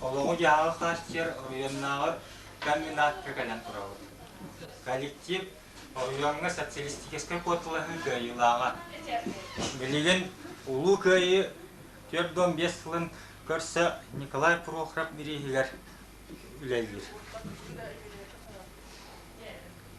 Олоҕу-дьаһаҕы хааччыйар оройуоннааҕы комбинатка кэлэн турабыт. Коллектив оройуоҥҥа социалистическай куоталаһыы кыайыылааҕа. Билигин Улуу Кыайыы түөрт уон биэс сылын көрсө Николай Прохоров бирииһигэр үлэлиир.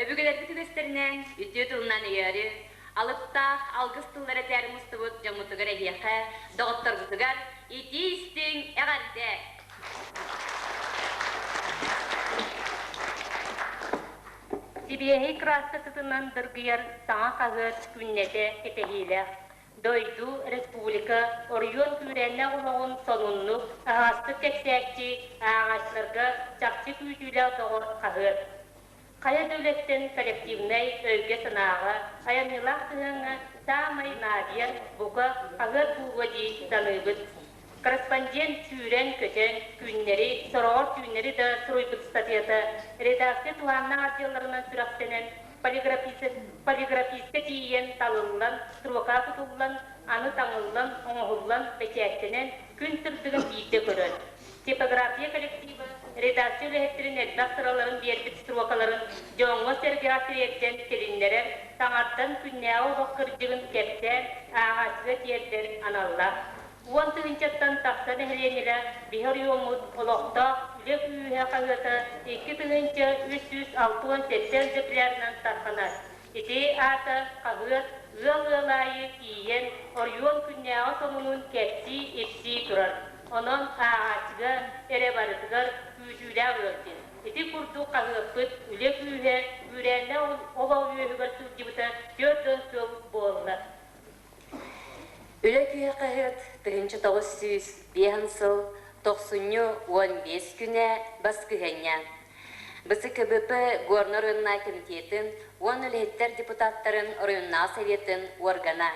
Өбүгэлэрбит үгэстэринэн үтүө тылынан өйөөрү, алыптаах алгыс тыллары этээри мустубут дьоммутугар эһиэхэ, доҕотторгутугар итии-истиҥ, эҕэрдэ! Сибиэһэй кырааскасытынан дыргыйар саҥа хаһыат күннэтэ кэтэһиилээх. Дойду, республика, оройуон күүрээннээх олоҕун сонуннук, таһаҕастык кэпсээччи, ааҕааччыларга чахчы күүтүүлээх доҕор хаһыат. Хайа да үлэттэн коллективнай өйгө-санааҕа, айанньылаах сыһыаҥҥа саамай наадыйар, бука, хаһыат дууһа дии саныыбыт. Корреспондент сүүрэн-көтөн, түүннэри, сороҕор түүннэри да суруйбут ыстатыйата редакция туһааннаах отделларынан сүрэхтэнэн, полиграфист-полиграфистка тиийэн талыллан, строка тутуллан, аны таҥыллан, оҥоһуллан, бэчээттэнэн, күн сырдыгын биирдэ көрөр. Типография коллектива редакция үлэһиттэрин элбэх сыраларын биэрбит строкаларын дьоҥҥо-сэргэҕэ тириэрдэн тилиннэрэр, саҥардан күннээҕи олох кырдьыгын кэпсээн ааҕааччыга тиэрдэн аналлаах. Уон тыһыынчаттан тахса нэһилиэнньэлэ биһи оройуоммут олохтоох үлэ күүһэ-хаһыата икки тыһыынча үс сүүс алтыон сэттэ өлдьөкүлээринэн тарҕанар. Ити аата хаһыат ыал ыал аайы тиийэн, оройуон күннээҕи сонунун кэпсии-ипсии турар. Онон ааҕааччыга эрэ барытыгар күүтүүлээх ыал диэн. Ити курдук хаһыаппыт үлэ күүһэ күүрээннээх олоҕу үөһүгэр сылдьыбыта түөрт уон сыл буолла. Үлэ күһэ-хаһыат тыһыынча тоҕус сүүс биэһэн сыл тохсунньу уон биэс күнэ баскыһыанньа. БСКБП Горнай оройуоннай комитетин уон үлэһиттэр депутаттарын оройуоннааҕы советын органа.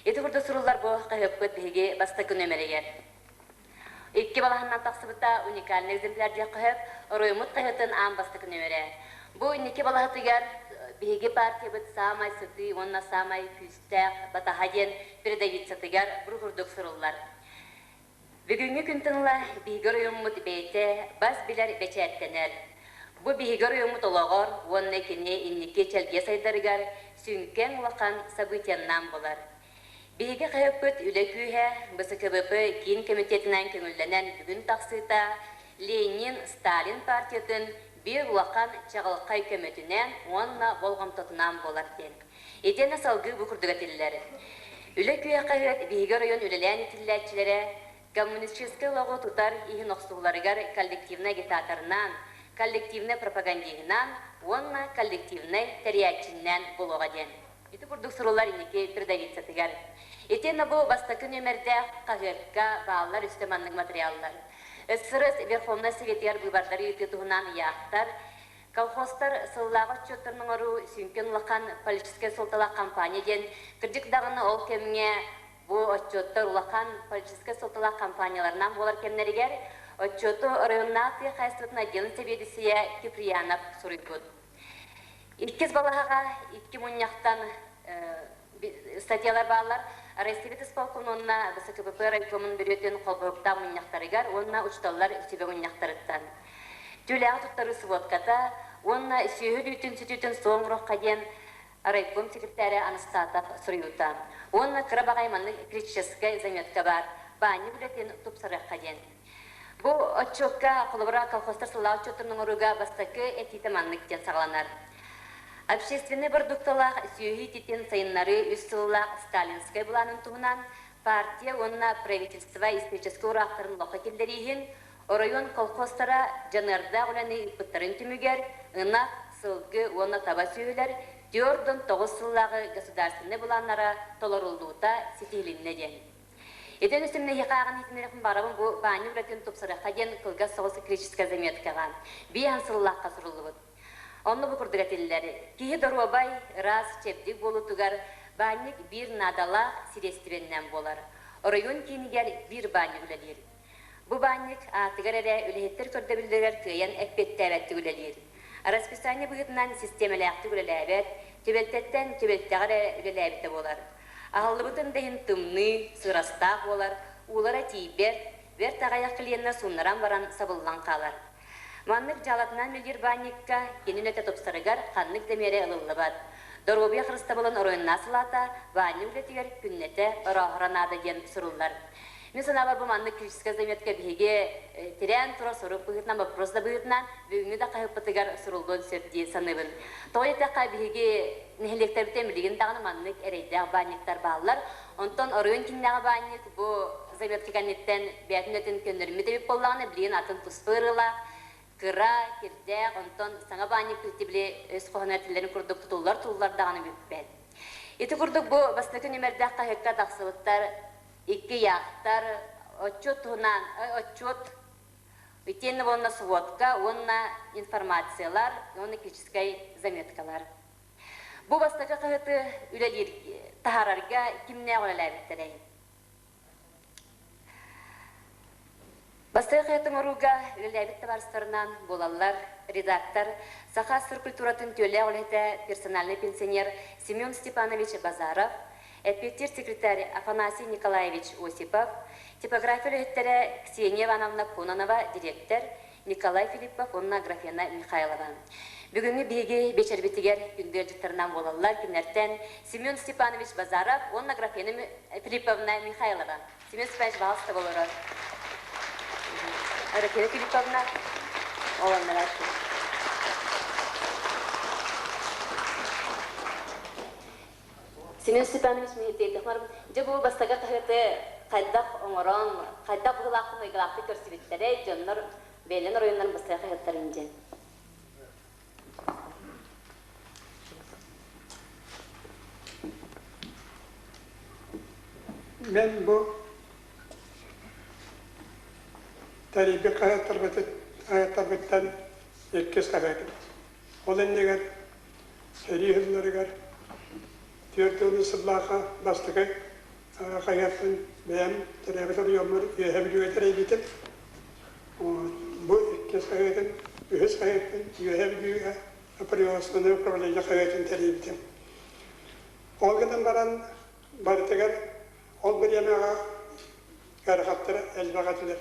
Ити курдук суруллар бу хаһыаппыт биһиги бастакы нөмеригэр. Икки балаһаннан тахсыбыта уникальный экземпляр диэххэ сөп, оройуммут хаһыатын аан бастакыны үөрээр. Бу инники балаһатыгар биһиги партиябыт саамай сытыы уонна саамай күүстээх батаһа диэн передовицатыгар бу курдук суруллар. Бүгүҥҥү күн тыҥла биһиги оройуммут бэйэтэ бас билэр бэчээттэнэр. Бу биһиги оройуммут олоҕор уонна кини инники чэлгиэ сайдарыгар сүҥкэн улахан событиеннаан буолар. Биһиги хаһыаппыт үлэ күүһэ, БСКВП киин кэмитиэтинэн көҥүллэнэн бүгүн тахсыыта Ленин, Сталин партиятын биир улахан чаҕылхай көмөтүнэн уонна болҕомтотунан буолар диэн итиэннэ салгыы бу курдук этиллэр Үлэ күүһэ хаһыат биһиги оройуон үлэлээн итиллээччилэрэ коммунистическай олоҕу тутар иһин охсуһууларыгар коллективнай агитаторынан, коллективнай пропагандиһынан уонна коллективнай тэрийээччиннэн буолуоҕа диэн. Ити курдук суруллар инники трудовицатыгар итиэннэ бу бастакы нүөмэрдээх хаһыакка бааллар үстэ маннык матырыйааллар сырыс Верховнай Советыгар быыбардары ыытыы туһунан ыйаахтар, колхозтар сыллааҕы отчуоттарын оҥоруу сүҥкэн улахан политическай суолталаах хампаанньа диэн, кырдьык даҕаны ол кэмҥэ бу отчуоттар улахан политическай суолталаах хампаанньаларнаан буолар кэмнэригэр отчуоту оройуоннаах тыа хаһаайыстыбатын отделын сэбиэдиссэйэ Киприянов суруйбут. Иккис балаһаҕа икки мунньахтан статьялар бааллар Российбит исполкомунна БСКПП райкомун бүрүөтүн холбоһуктаах мунньахтарыгар уонна учууталлар сүбэ мунньахтарыттан. Түүлээҕи туттарыы сводката уонна сүөһү үүтүн сүтүүтүн соңрохха диэн райком секретаря Анастатов суруйуута уонна кыра баҕай маннык электрическай заметка баар баанньа үлэтин тупсарыахха диэн Бу отчуокка холобура колхозтар сыллаах отчуоттарын оҥорууга бастакы этиитэ маннык диэн саҕаланар. Общественнай бородуукталаах сүөһү ититин сайыннарыы үс сыллаах сталинскай былаанын туһунан партия уонна правительство историческай ураахтарын лохо киллэрииһин оройуон колхозтара дьаныардаах үлэни ыыппыттарын түмүгэр ынах, сылгы уонна таба сүөһүлэр түөрт он тоҕус сыллааҕы государственнай былааннара толоруллуута ситиһилиннэ диэн Ити өрүсүмнэһии хааҕын иитиннэриэхпин баҕарабын бу Баанньа уратытын тупсарыахха диэн кылгас соҕус электрическай заметкаҕа биир аһын сыллаахха суруллубут. Онно бу курдук этиллэр, Киһи доруобай, ыраас, чэбдик буолуутугар баанньык биир наадалаах сириэстибэннээн буолар. Оройуон киинигэр биир баанньык үлэлиир. Бу баанньык аартыгар эрэ үлэһиттэр көрдөбүллэригэр кыайан эппиэттээбэттик үлэлиир. Арасписание быһыытынан систиэмэлээхтик үлэлээбэт, түбэлтэттэн түбэлтэҕэ эрэ үлэлээбитэ буолар. Аһыллыбытын да иһин тымныы, сыырастаах буолар, уулара тиийбэт, бэрт аҕыйах клиэннэр сууннаран баран сабыллан хаалар. Маннык дьаалатынан мельербанньыкка кини үлэтэ тупсарыгар ханнык да миэрэ ылыллыбат. Доруобуйа харыстабылын оройуннаах салаата баанньа үлэтигэр күннэтэ орооһоро наада диэн суруллар. Мин санаабар, бу маннык критическэй заметка биһиги тирээн турар сорук быһыытынан, боппуруос да быһыытынан бүгүҥҥү да хаһыаппытыгар суруллуон сөп дии саныыбын. Тоҕо диэтэххэ, биһиги нэһилиэктэрбиттэн билигин даҕаны маннык эрэйдээх баанньыктар бааллар. Онтон оройуон кииннээҕи баанньык бу заметка кэнниттэн бэйэтин үлэтин көннөрүммүт эбит буоллаҕына, билигин атын туспа ырыалаах, кыра, кирдээх, онтон саҥа баанньык билти били өс хоһуна этиллэрин курдук тутуллар-тутуллар даҕаны бүппэт. Ити курдук бу бастакы күн үмэрдээх хаһыакка тахсыбыттар икки яхтар отчет туһунан отчет итиэннэ уонна субуотка уонна информациялар уонна критическай заметкалар Бу бастакы хаһыаты үлэлиир таһаарарга кимнээх үлэлээбиттэрэй? Бастакы хаһыат оҥорууга үлэлээбит табаарыстарынан буолаллар редактор, Саха сир культуратын түөлээх үлэһитэ, персональный пенсионер Семен Степанович Базаров, эппиэттиир секретарь Афанасий Николаевич Осипов, типография үлэһиттэрэ Ксения Ивановна Кононова, дириэктэр, Николай Филиппов уонна Аграфена Михайлова. Бүгүҥҥү биһиги биэчэрбитигэр күндүалдьыттарынан буолаллар кинилэртэн Семен Степанович Базаров уонна Аграфена Филипповна Михайлова. Семен Степанович, пожалуйста, олорор. Аграфена Филипповна, олоннара Семен Степанович Миһиттиэйдэх барбыт. Дьэ бу бастакы хаһыаты хайдах оҥорон, хайдах быһыылаахтык-өйдөөхтүк көрсүбүттэрэй, дьоннор бэйэлэрин оройуоннарын быстарга хаһыаттарын диэн. Мен бу тарийбит хаһыаттарбыттан иккис хаһыатым. Ол иннигэр сэрии сылларыгар түөрт уон сыллаахха бастакы хайаттан бэйэм төрөөбүт оройуоммар үөһэ бүлүүгэ тэрийбитим. Бу иккис хайатын, үһүс хайатын үөһэ бүлүүгэ производственное управление хайатын тэрийбитим. Ол гынан баран барытыгар ол бириэмэҕэ ыарахаттар элбэх этилэр.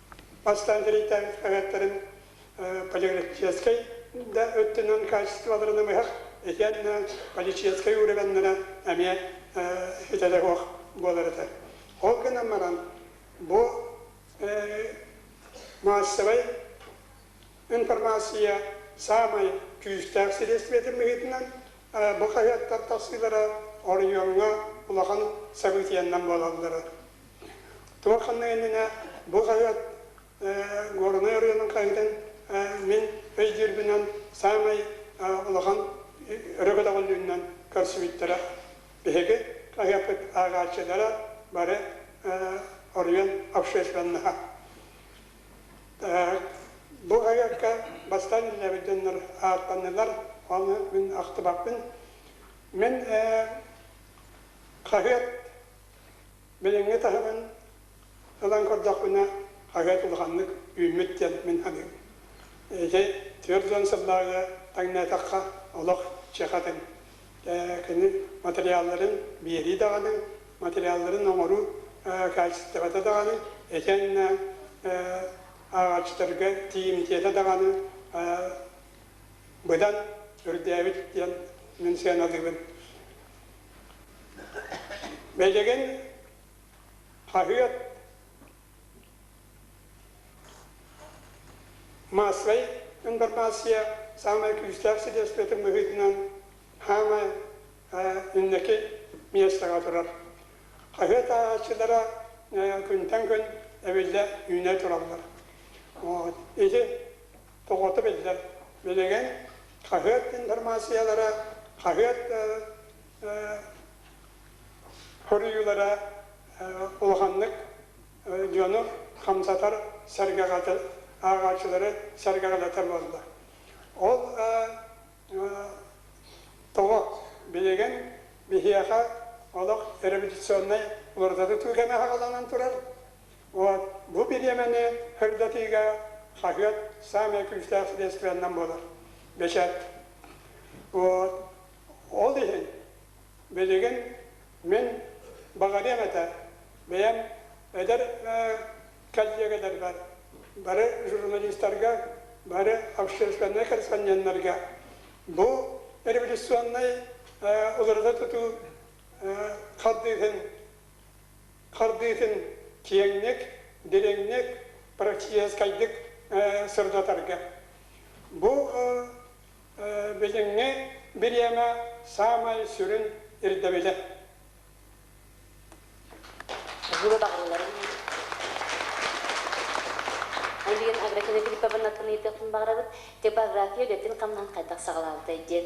бастаан дириэйтээҥ эҕэттэрин поликлиническай да өттүнэн качестволарынан быһах итиэннэ поликлиническай ууребеннара эмиэ идэлэһуох буолар этэ. Ол гынан баран бу маассабай информация саамай күүстээх средствотын быһыытынан бу хаһыаттар тахсыылара оройуоҥҥа улахан событиеннан буолаллара. Туоханна иннинэ бу хаһыат Горнай ырыынын хаһыытын мин өйдүүрбүнэн саамай улахан өрөгөтөҕүллүүнүнэн көрсүбүттэрэ. Биһиги хаһыаппыт ааҕааччылара бары оройуон общественноһа. Бу хаһыакка бастаан иллэбит дьоннор ааттаннылар, оны мин ахтыбаппын. Мен хаһыат Билиҥҥи таһымын ылан көрдөхпүнэ, хаһыат улаханнык үүммүт диэн мин саныыбын. Дьэ, түөрт уон сыллааҕыга таҥнаатахха, олох чэхэтин. Кини материалларын биэрии даҕаны, материалларын оҥоруу хаачыстыбата даҕаны, итиэннэ ааҕааччыларга тиийимтиэтэ даҕаны быдан үрдээбит диэн мин сыаналыыбын. Бэдэгин хаһыат массовай информация самое күүстээх средствотын быһыытынан хаамай инники миэстэҕэ турар. Хаһыат ааҕааччылара күнтэн күн эбиллэ үүнэ тураллар. Ити Тоҕото биллэр. Билигин хаһыат информациялара, хаһыат хоруйуулара улаханнык дьону хамсатар, сэргэҕэтэр, ааҕааччылары сэргэҕэлэтэр буолла. Ол тоҕо билигин биһиэхэ олох репетиционнай уларыта тутуу кэмэ аҕаланан турар, Бу бириэмэни көрдөрүүгэ хаһыат саамай күүстээх средстванан буолар. Бэчээт. Ол иһин билигин мин баҕарыам этэ бэйэм эдэр коллегаларбар, бары журналистарга, бары общественнай корреспонденнарга бу революционнай уларыта тутуу хардыыһын хардыытын киэҥник, дириҥник, практическайдык сырдатарга. Бу билиҥҥи бириэмэ саамай сүрүн ирдэбилэ. Альбина Аграфина Филипповна тыныйытыахпын баҕарабыт, типография үлэтин хамнаһын хайдах саҕалаабытай диэн.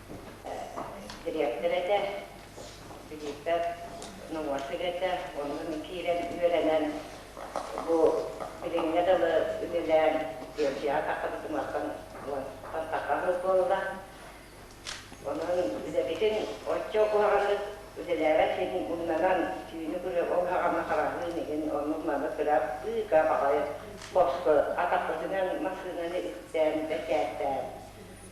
дириэктэр этэ, билиитэр нуруот үлэтэ, оннун киирэн үөрэнэн, бу билиҥҥэ дылы үлэлээн биэлдьэҕэ тахсан туматтан тартахха буолла. Онон үлэбитин оччо куһаҕаннык үлэлээбэт син муннанан түүнү күрүө ол хаҕама хараҕыын иһин оннук маны кыра быыка баҕайы боску атахпытынан массыынаны истээн бэчээттээн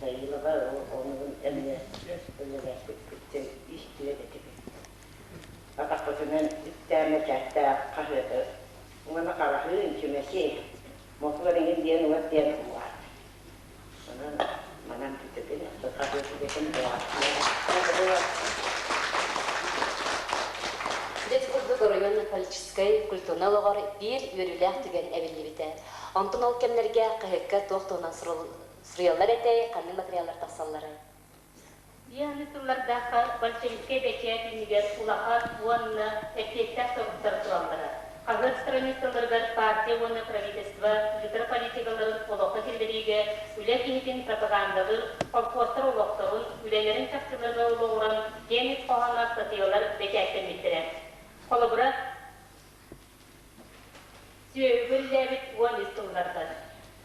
Дьайыылаба оҕолорун өҥнөөспүт, үлэлэспиппитин истибэт этибит. Атахпытынан үптээммэ чээстээх хаһыаты уонна хараһыы, чүмэчи, мотуор иҥин диэн уот диэн улаат. Онон манан бүтүбүн, хаһыат үлэтин бырааттаабыта. Бит курдук оройуон политическай культурнай олоҕор биир үөрүүлээх түгэн эбиллибитэ. Онтон ол кэмнэргэ КХК туох туһунан суруллубут Стреллар этэй ханнык материаллар тахсалларый? Дианы тыллардаахха большевиккай бэчээт иннигэр улахан уонна эппиэттээх соруктар тураллара. Хаһыат страницаларыгар партия уонна правительство митрополитикаларын олоххо киллэриигэ үлэ киһитин пропагандалыыр холкуостар олохторун, үлэлэрин чахчыларга олоҕуран генник хоһооно статыйалар бэчээттэммиттэрэ. Холобура. Сүөһүбү үллээбит уон ис сыллартан.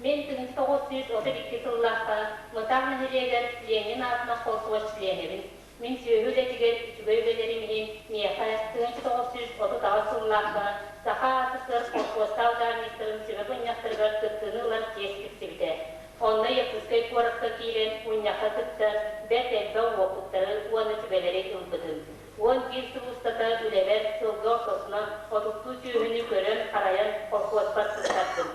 Мин тыһыынча тоҕус сүүс отут икки сыллаахха Мытаах нэһилиэгэр Ленин аатынан холкуос чилиэнэбин. Мин сүөһү үлэтигэр үчүгэй үлэлэрим иһин миэхэ тыһыынча тоҕус сүүс отут аҕыс сыллаахха саха аатыттан холкуостаах дьаһанньыттарын сүбэ мунньахтарыгар кыттыыны ылар чиэс тиксибитэ. Онно Якутскай куоракка киирэн мунньахха кытта бэрт элбэх уопуттары уонна сүбэлэри ылбытым. Уон биир сыл устата үлэбэр сылга ортосунан отуттуу сүөһүнү көрөн-харайан колхуоспар сырытардым.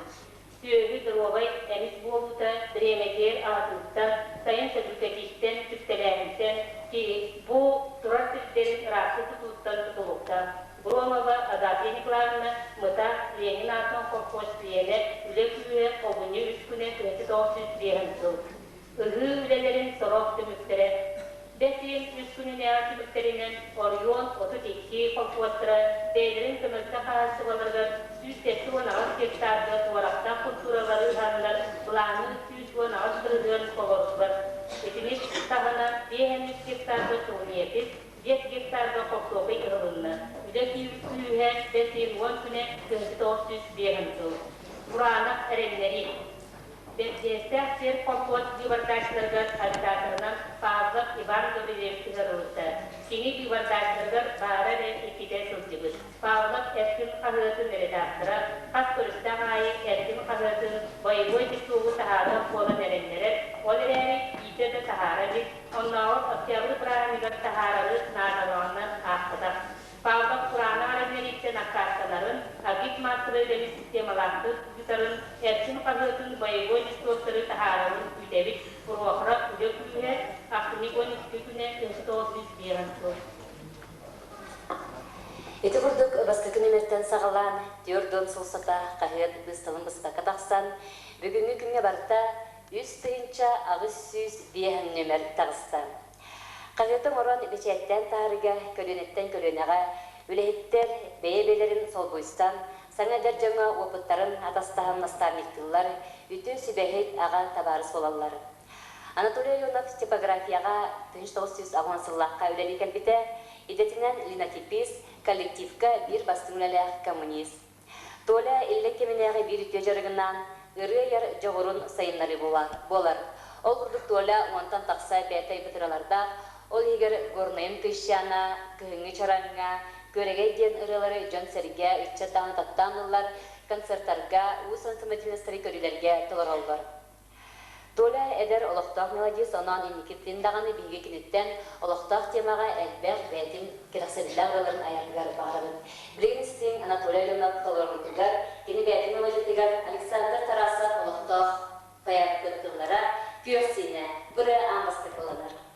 Сүөһү доруобай эмис буолуута бириэмэтигэр аҕатыттан, сайын сөлүүкэтиттэн, түптэлээһинтэн, киһи бу турар сирдэрин ыраастыы тутууттан тутулуктаах. Громова Агафья Николаевна, Мыта, Ленин аатын колхоз биэрэр, үлэ күүһэ, обуньу үс күнэ тыһыты тоҕус сүүс биэһ сыл. Ыһыы үлэлэрин сорох түмүктэрэ Бэс иһин үс күнүнээҕи түмүктэринэн Орион отут икки колхуостара бэйэлэрин көмөлтө хаһааччылаларыгар сүүс сэттэ уон аҕыс гектарга уорахтаах култууралары ыһаннар былааны сүүс уон аҕыс тырыһыан толордулар. Итини таһынан биэс эмис гектарга турниепис, биэс гектарга хортуопай ыһылынна. Үлэ күүһэ Бэс иһин уон күнэ, кыһыттан ох сүүс биэс ым сыл. Бураанах эрэннэрии. Бэрдьиэстээх сельхозхоз быыбардааччыларыгар хандьаатырынан Павлов Иван Гобелев ыҥырылынна. Кини быыбардааччыларыгар баара эрэ иккитэ сылдьыбыт. Павлов Эркин хаһыатын редактора хас көрүстээх аайы Эркин хаһыатын боевой титулу таһаарыах буолан эрэннэрэр, ол эрээри иитэ да таһаара илик, оннооҕор Октябрь бырааһынньыгар таһаарары наадалаҕынан аахпатах. Павлов кураана ареннэрииттэн аккаастанарын, АГИТ мастера үлэбит системалаахтык ыытарын, Эрчим хаһыатын боевой беспортору таһаарарын күүтэбит, Рохра үлэ күүһэ, Автомикон икки күнэ көстөҕө сүүс биэс сыл. Ити курдук бастакы нүөмэртэн саҕалаан түөрт уон сыл сата хаһыат быысталын быспакка тахсан, бүгүҥҥү күҥҥэ барыта үс тыһыынча аҕыс сүүс биэһ нүөмэр таҕыста. Хаһыаты оҥорон мичээрдээн таһаарыыга көлүөнэттэн көлүөнэҕэ үлэһиттэр бэйэ-бэйэлэрин солбуйсан, саҥа эдэр дьоҥҥо уопуттарын атастаһан наставниктыыллар, үтүө сүбэһит аҕа табаарыс буолаллар. Анатолий Аленов типографияҕа тыһыынча тоҕус сүүс аҕыс уон сыллаахха үлэлии кэлбитэ, идэтинэн Линотипис коллективка биир бастыҥ үлэлээх коммунист. Толя иллэҥ кэминээҕи биир үтүө дьарыгынаан ырыа айар дьоҕурун сайыннарыы буолар. Ол курдук Толя уонтан тахса бээтэй бытыралардаах, ол иһигэр Горнайын Кыйшана, Кыһыҥҥы чарааҥҥа, Күөрэгэй диэн ырыалары дьон-сэргэ, ыччат даҕаны таптаан ыллар, концертарга, уус ансаммитинастары көрүүлэргэ толороллор. Толя эдэр олохтоох маладьыас онон инникитин даҕаны биһиги киниттэн олохтоох тиэмэҕэ элбэх бэйэтин кэрэхсэбиллээх ырыаларын айаргар баҕарабыт. Билигин истиҥ Анатолий Аленов толоруутугар, кини бэйэтин мелодиятыгар Александр Тарасов олохтоох поэт кыттыылара, күөх сиинэ, бырыа аан бастакыланар.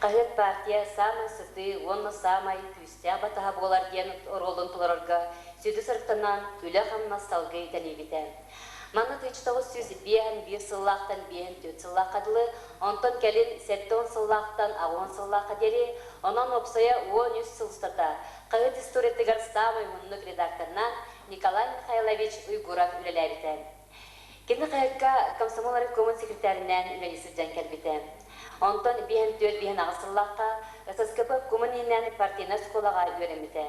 Хаһыат партия саамай сытыы уонна саамай күүстээх батаһа буолар диэн оруолун толорорго сүдү сырыттанан, үлэ-хамнас салгыы итэниибитэ. Манна тыйыс тоҕус сүүс биэһ биир сыллаахтан биэһ түөрт сыллаахха дылы, онтон кэлин сэттэ уон сыллаахтан аҕа уон сыллаахха диэри, онон уопсайа уон үс сыл устата хаһыат историятыгар саамай уһуннук редакторынан Николай Михайлович Уйгуров үлэлээбитэ. Кини ХЭК-ка комсомол райкомун секретэринээн үлэлии сылдьан кэлбитэ. Онтон биэһин-түөрт-биэһин-аҕыс сыллаахха ССКП Кумын-Иинэн партийнай оскуолаҕа үөрэммитэ.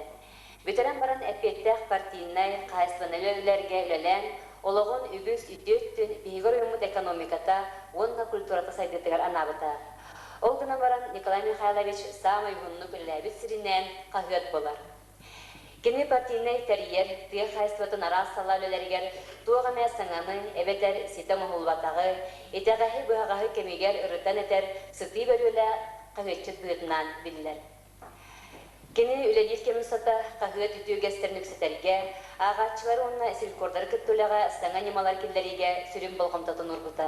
Бүтэрэн баран эппиэттээх партийнай хаһаайыстыбаннай үлэлэргэ үлэлээн, олоҕун үгүс үтүө өттүн биһиги оройуммут экономиката уонна культурата сайдыытыгар анаабыта. Ол гынан баран Николай Михайлович саамай уһуннук үлэлээбит сиринээн хаһыат буолар. Кини партийнай тэрийэр тыа хаайсыбатын араас салаа үлэлэригэр туох эмэ саҥаны эбэтэр ситэ оҥоһуллубатаҕы, итэҕэһи-быһаҕаһы кэмигэр ырытан этэр сытыы бөрүөлэ хаһыатчыт быһыытынан биллэр. Кини үлэлиир кэм устата хаһыат үтүө үгэстэрин үксэтэргэ, ааҕааччылары уонна сиррекордары кытта үлэҕэ саҥа ньымалар киллэриигэ сүрүн болҕомтотун уурбута.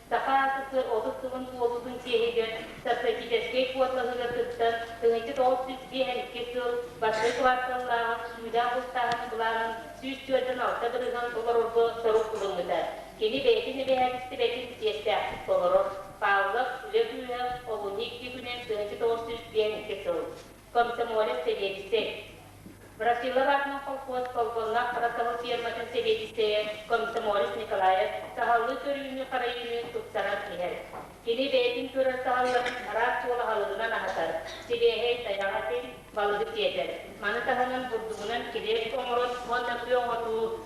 Саха СССР отут сылын туолуутун чиэһигэр стратегическай куоталаһыыга кыттан, тыһыынча тоҕус сүүс биэс икки сыл Бастакы кварталлааҕы сүүрэ бултааһыны былаанын сүүс түөртэн алта грыһын толорорго сорук ылыммыта. Кини бэйэтин эбэһээтистибэтин чиэстээхтик толорор. Павлов, үлэ кыыһа, олунньу икки күнүн тыһыынча тоҕус сүүс биэс икки сыл. Комсомолец сэбиэдиссэй. Брасилова аатынан холкуос колхуоннаах Хабасаһы ферматын сэбиэдиссэйэ Комсомолец Николаев саһаллыы көрүүнү-харайыыны тупсаран иһэр. Кини бэйэтин көрөр саһалларын араас уол аһылыгынан аһатар, сибиэһэй тайаҕа этин, балыгы сиэтэр. Маны таһынан бурдугунан килиэп оҥорон уонна тыы оҥоруу,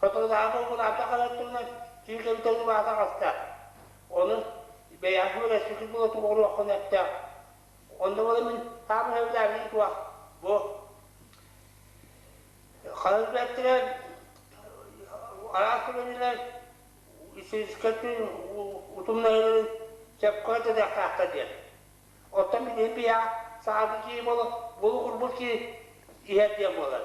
Хотуолаһаҕа укулаата ханар туһунан сүүрдэн толлубаата хаста. Ону бэйэҕэ көрөссүтү була туоруоххун эттэ. Онно буола мин хаабыһаллаабын туох бу ханар бэттилэр араас көрөнүлэр үсүскэтин утумнайыларын сөпкө дадахтаахта диэн. Оттон билиэн бия саады кии бол булу урбут ки иһэр диэн буолар.